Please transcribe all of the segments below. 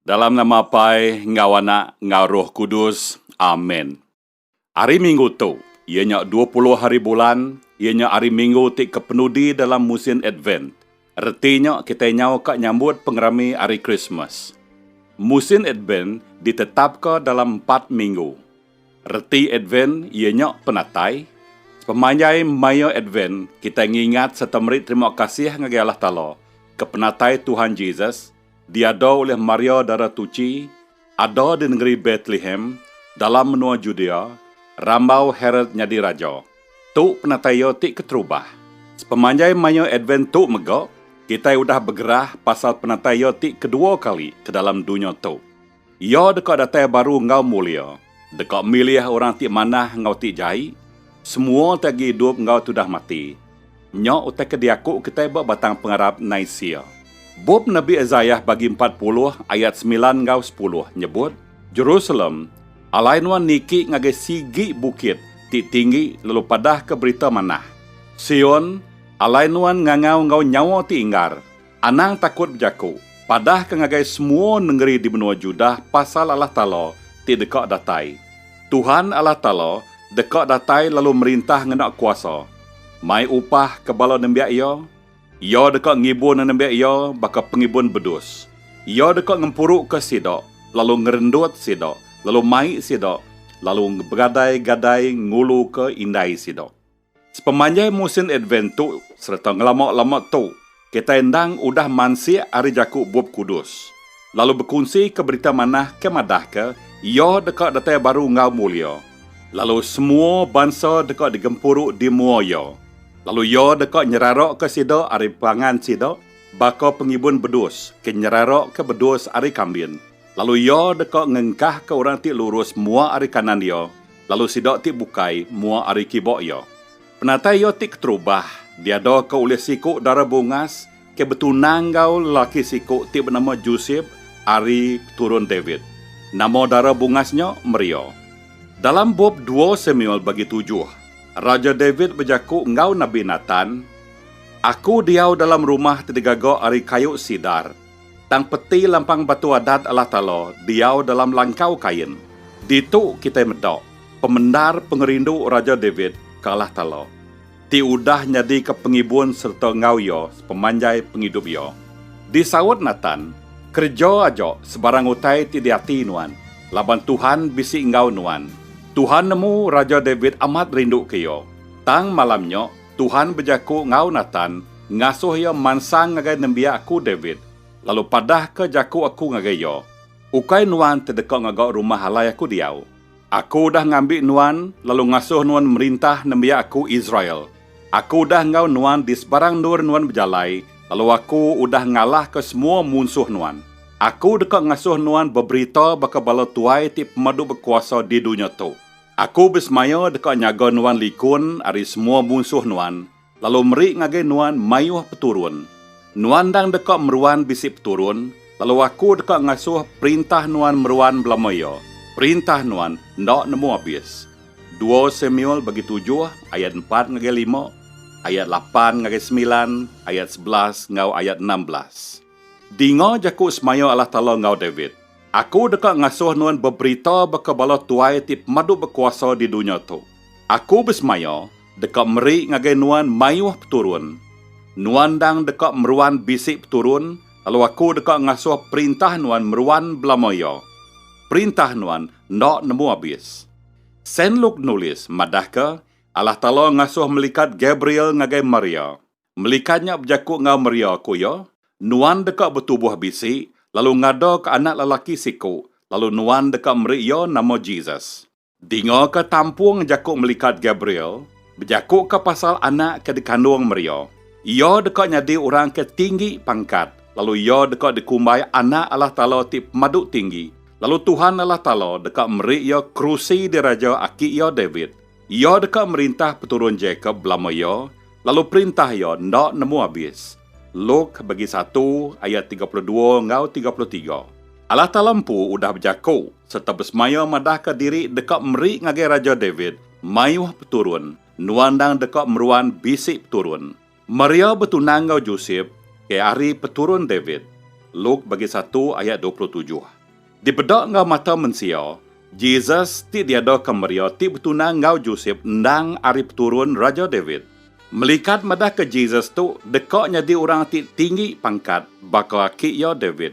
Dalam nama Apai enggau Anak enggau Roh Kudus. Amen. Ari minggu tu, iya nya dua puluh hari bulan, iya nya ari minggu ti kepenudi dalam musin Advent. Reti nya kitai nyau ka nyambut pengerami Hari Krismas. Musin Advent ditetapka dalam empat minggu. Reti Advent iya nya penatai. Sepemanjai maya Advent, kitai ngingat sereta meri terima kasih ngagai Allah Taala ke penatai Tuhan Jesus, diado ulih Maria Dara Tuchi, ada di nengeri Betlehem, dalam menua Judea, rambau Herod nyadi raja. Tu penatai iya ti keterubah. Sepemanjai maya Advent tu mega, kitai udah begerah pasal penatai iya ti kedua kali ke dalam dunya tu. Iya deka datai baru enggau mulia, deka milih orang ti manah enggau ti jai, semua ti agi idup enggau ti udah mati. Nya utai ke diaku kitai ba Batang Pengarap Nisia. Bup Nabi Isaiah bagi empat puluh ayat semilan enggau sepuluh nyebut, Jerusalem, alai nuan niki ngagai sigi bukit ti tinggi lalu padahka berita manah. Sion, alai nuan ngangau enggau nyawa ti inggar. Anang takut bejaku, padah ke ngagai semua nengeri di menua Judah pasal Allah Taala ti deka datai. Tuhan Allah Taala deka datai lalu merintah ngena kuasa. Mai upah ke bala nembiak Iya? Iya deka ngibun nembiak Iya baka pengibun bedus. Iya deka ngempuruka sida, lalu ngerendut sida, lalu mai sida, lalu begadai-gadai nguluka indai sida. Sepemanjai musin Advent tu sereta ngelama-lama tu, kitai endang udah mansik ari jaku Bup Kudus, lalu bekunsika Berita Manah ke madahka Iya deka datai baru enggau mulia, lalu semua bansa deka digempuru di mua Iya, lalu Iya deka nyeraraka sida ari pangan sida baka pengibun bedus ke nyeraraka bedus ari kambin, lalu Iya deka ngengkahka orang ti lurus mua ari kanan Iya, lalu sida ti bukai mua ari kiba iya. Penatai iya ti keterubah diadaka ulih siku dara bungas ke betunang enggau lelaki siku ti benama Josep ari keturun David. Nama dara bungas nya Maria. Dalam bup dua Samuel bagi tujuh, Raja David bejaku enggau nabi Natan, Aku diau dalam rumah ti digaga ari kayu sidar, Tang peti lampang Batu Adat Allah Taala diau dalam langkau kain. Ditu kitai meda pemendar pengerindu Raja David ke Allah Taala, ti udah nyadika pengibun sereta enggau Iya sepemanjai pengidup iya. Disaut Natan, Kereja aja sebarang utai ti diati nuan, laban Tuhan bisi enggau nuan. Tuhan nemu Raja David amat rinduka iya, tang malam nya, Tuhan bejaku enggau Natan, ngasuh iya mansang ngagai nembiak aku David, lalu padahka jaku aku ngagai iya, Ukai nuan ti deka ngaga rumah alai aku diau. Aku udah ngambi nuan lalu ngasuh nuan merintah nembiak aku Israel. Aku udah enggau nuan di sebarang endur nuan bejalai, lalu aku udah ngalahka semua munsuh nuan. Aku deka ngasuh nuan beberita baka bala tuai ti pemadu bekuasa di dunya tu. Aku besemaya deka nyaga nuan likun ari semua munsuh nuan, lalu meri ngagai nuan mayuh peturun. Nuan endang deka meruan bisi peturun, lalu Aku deka ngasuh perintah nuan meruan belama iya, perintah nuan enda nemu abis. Dua Samuel bagi tujuh ayat empat ngagai lima, ayat lapan ngagai semilan, ayat sebelas enggau ayat enam belas. Dinga jaku semaya Allah Taala enggau David, Aku deka ngasuh nuan beberita baka bala tuai ti pemadu bekuasa di dunya tu. Aku besemaya deka meri ngagai nuan mayuh peturun. Nuan endang deka meruan bisi peturun, lalu Aku deka ngasuh perintah nuan meruan belama iya. Perintah nuan enda nemu abis. Saint Luke nulis madahka, Allah Taala ngasuh melikat Gabriel ngagai Maria. Melika nya bejaku enggau Maria, ku iya, Nuan deka betubuh bisi, lalu ngadaka anak lelaki siku, lalu Nuan deka meri iya nama Jesus. Dingaka tampung jaku melikat Gabriel bejakuka pasal anak ke dikandung Maria. Iya deka nyadi orang ke tinggi pangkat, lalu iya deka dikumbai Anak Allah Taala ti Pemadu Tinggi, lalu Tuhan Allah Taala deka meri iya kerusi diraja aki iya David. Iya deka merintah peturun Jakop belama iya, lalu perintah iya enda nemu abis. Luk bagi satu ayat tiga puluh dua enggau tiga puluh tiga. Allah Taala empu udah bejaku sereta besemaya madahka diri deka meri ngagai Raja David mayuh peturun, nuan endang deka meruan bisi peturun. Maria betunang enggau Josep ke ari peturun David, Luk bagi satu ayat dua puluh tujuh. Dipeda enggau mata mensia, Jesus ti diadaka Maria ti betunang enggau Josep endang ari peturun Raja David. Melikat madahka Jesus tu deka nyadi orang ti tinggi pangkat baka aki iya David.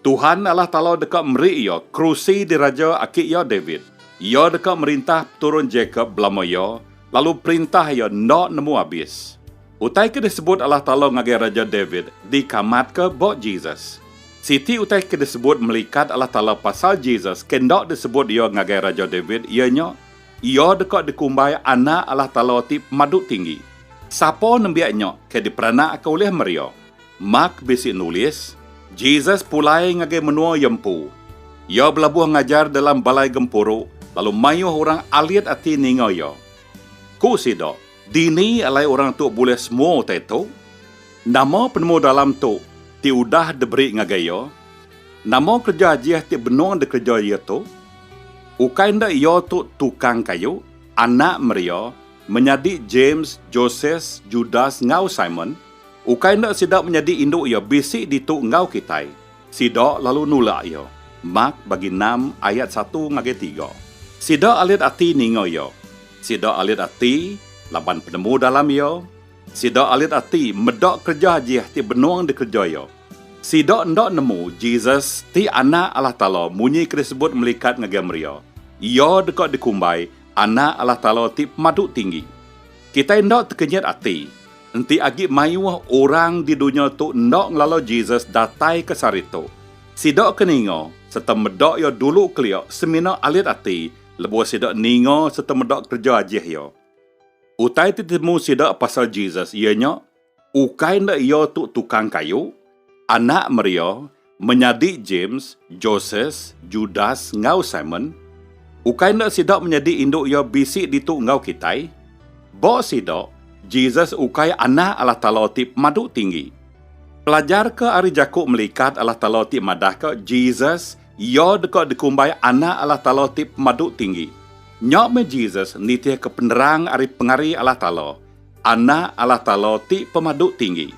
Tuhan Allah Taala deka meri iya kerusi diraja aki iya David. Iya deka merintah peturun Jakop belama iya, lalu perintah iya enda nemu abis. Utai ke disebut Allah Taala ngagai Raja David dikamatka ba Jesus. Siti utai ke disebut melikat Allah Taala pasal Jesus ke enda disebut iya ngagai Raja David iya nya, iya deka dikumbai Anak Allah Taala ti Pemadu Tinggi. Sapa nembiak nya ke diperanakka ulih Maria? Mark bisi nulis, Jesus pulai ngagai menua iya empu. Iya belabuh ngajar dalam balai gempuru lalu mayuh orang alit ati ninga iya. Ku sida, Dini alai orang tu bulih semua utai tu? Nama penemu dalam tu ti udah diberi ngagai iya? Nama kereja ajih ti benung dikereja iya tu? Ukai enda iya tu tukang kayu, anak Maria, menyadi James, Joses, Judas enggau Simon? Ukai enda sida menyadi indu iya bisi ditu enggau kitai, sida lalu nulak iya. Mak bagi enam ayat satu ngagai tiga. Sida alit ati ninga iya. Sida alit ati laban penemu dalam iya. Sida alit ati meda kereja ajih ti benung dikereja iya. Sida enda nemu Jesus ti Anak Allah Taala munyi ke disebut melikat ngagai Maria. Iya deka dikumbai Anak Allah Taala ti Pemadu Tinggi. Kitai enda tekenyit ati. Enti agi mayuh orang di dunya tu enda ngelalau Jesus datai ke sehari tu, sida ke ninga sereta meda iya dulu kelia semina alit ati lebuh sida ninga sereta meda kereja ajih iya. Utai ti ditemu sida pasal Jesus iya nya ukai enda iya tu tukang kayu, anak Maria, Menyadi James, Joses, Judas, enggau Simon, ukai enda sida menyadi indu iya bisi ditu enggau kitai? Ba sida, Jesus ukai Anak Allah Taala ti pemadu tinggi. Pelajarka ari jaku melikat Allah Taala ti madahka Jesus iya deka dikumbai Anak Allah Taala ti Pemadu Tinggi. Nya meh Jesus nitihka penerang ari pengari Allah Taala. Anak Allah Taala ti pemadu tinggi.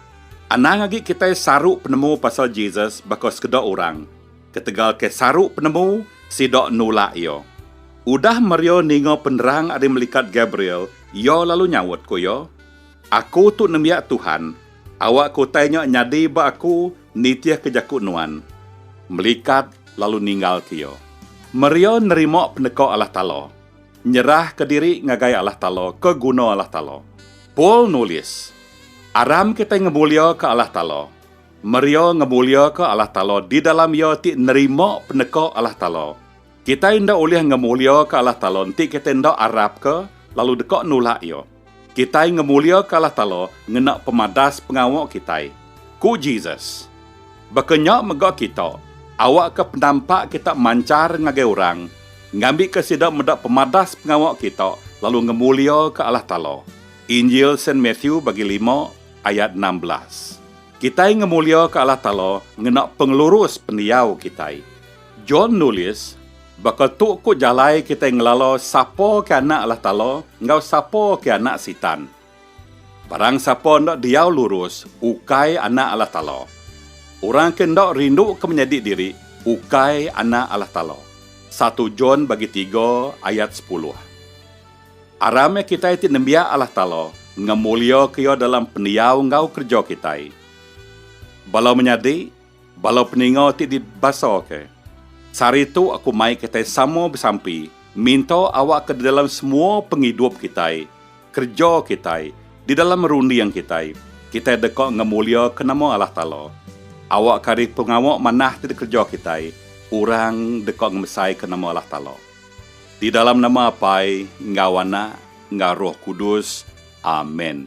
Anang agi kitai saru penemu pasal Jesus baka sekeda orang, ketegal ke saru penemu sida nulak iya. Udah Maria ninga penerang ari melikat Gabriel, iya lalu nyaut, ku iya, Aku tu nembiak Tuhan, awakka utai nya nyadi ba aku nitihka jaku Nuan. Melikat lalu ninggalka iya. Maria nerima peneka Allah Taala. Nyerahka diri ngagai Allah Taala ke guna Allah Taala. Paul nulis, Aram kitai ngemuliaka Allah Taala, meria ngemuliaka Allah Taala di dalam iya ti nerima peneka Allah Taala. Kitai enda ulih ngemuliaka Allah Taala enti kitai enda arapka lalu deka nulak Iya. Kitai ngemuliaka Allah Taala ngena pemadas pengawa kitai. Ku Jesus, Baka nya mega kita, awakka penampak kita manchar ngagai orang, ngambika sida meda pemadas pengawa kita lalu ngemuliaka Allah Taala. Injil Saint Matthew bagi lima ayat enam belas. Kitai ngemuliaka Allah Taala ngena pengelurus pendiau kitai. John nulis, Baka tu ku jalai kitai ngelala sapa ke anak Allah Taala enggau sapa ke anak Sitan. Barang sapa enda diau lurus, ukai anak Allah Taala. Orang ke enda rinduka menyadi diri, ukai anak Allah Taala. Satu John bagi tiga ayat sepuluh. Aram meh kitai ti nembiak Allah Taala ngemuliaka Iya dalam pendiau enggau kereja kitai. Bala menyadi, Bala peninga ti dibasaka. Sehari tu aku mai kitai sama besampi minta awak ke di dalam semua pengidup kitai, kereja kitai, di dalam runding kitai, kitai deka ngemuliaka nama Allah Taala. Awak ke ari pengawa manah ti dikereja kitai, orang deka ngemesaika nama Allah Taala. Di dalam nama Apai enggau Anak enggau Roh Kudus. Amen.